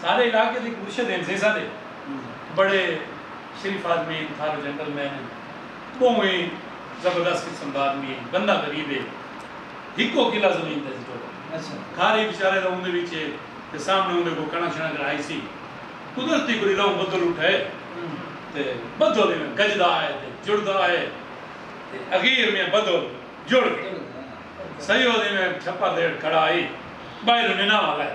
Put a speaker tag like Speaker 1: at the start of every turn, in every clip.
Speaker 1: سارے علاقے دے مرشد ہن سیں سارے بڑے شریف آدمی ہن تھارو جنٹل مین ہن بہوں ہی زبردست قسم دا آدمی ہن بندہ غریب ہے ہکو کلا زمین تے ڈٹو کھارے بیچارے دا اوندے وچ تے سامنے اوندے کول کنڑک شنڑک راہی سی قدرتی کوئی رلوں بدل اٹھے تے بدل ایویں گجدا ہے تے جڑدا ہے تے اخیر میں بدل جڑ گئے سید ایویں چھپر دے ہیٹھ کھڑا ہئی باہروں نناواں لائے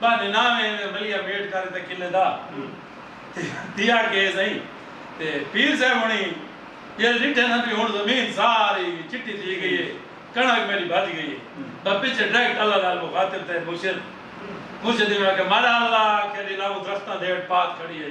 Speaker 1: بہانے نہ وے ایویں بلیا ویٹ کر تے قلعے دا تھیا کے سئیں تے پیر صاحب ہنی جیل ڈٹھے نہ بھی ہن زمین ساری چٹی تھی گئی ہے کنڑک میری بھج گئی ہے بس پیچھے ڈائریکٹ اللہ نال مخاطب تے مرشد مرشد ایویں آکھیا ماڑا اللہ آکھیا جی لاؤ درختاں دے اٹ پات کھڑی ہے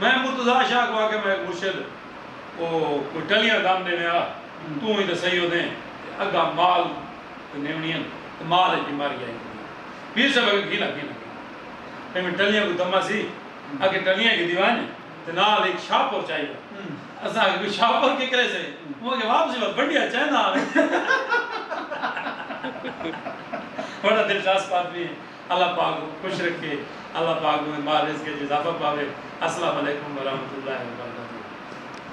Speaker 1: میں مرتضی شاہ کوں آکھیا میک مرشد او کوئی ٹلیاں دم ڈیویں آ توں ہی تاں سہی اودیں تے اگاں مال تے نیونیاں تے مال اچ بیماری آئی ویندی اے پیر صاحب آکھیا گھیلا کینا گھیلا ایویں ٹلیاں کوں دما سی آکھیا ٹلیاں گھدی ونج تے نال ہک شاہپور چائی ونج اساں آکھیا کوئی شاہپور ککرے سے اوں آکھیا واپسی وقت بنڈیا چیندا آویں بڑا دلچسپ آدمی اے۔ اللہ پاک خوش رکھے اللہ پاک اوندے مال رزق اچ اضافہ پاوے اسلام علیکم ورحمت اللہ وبرکاتہ.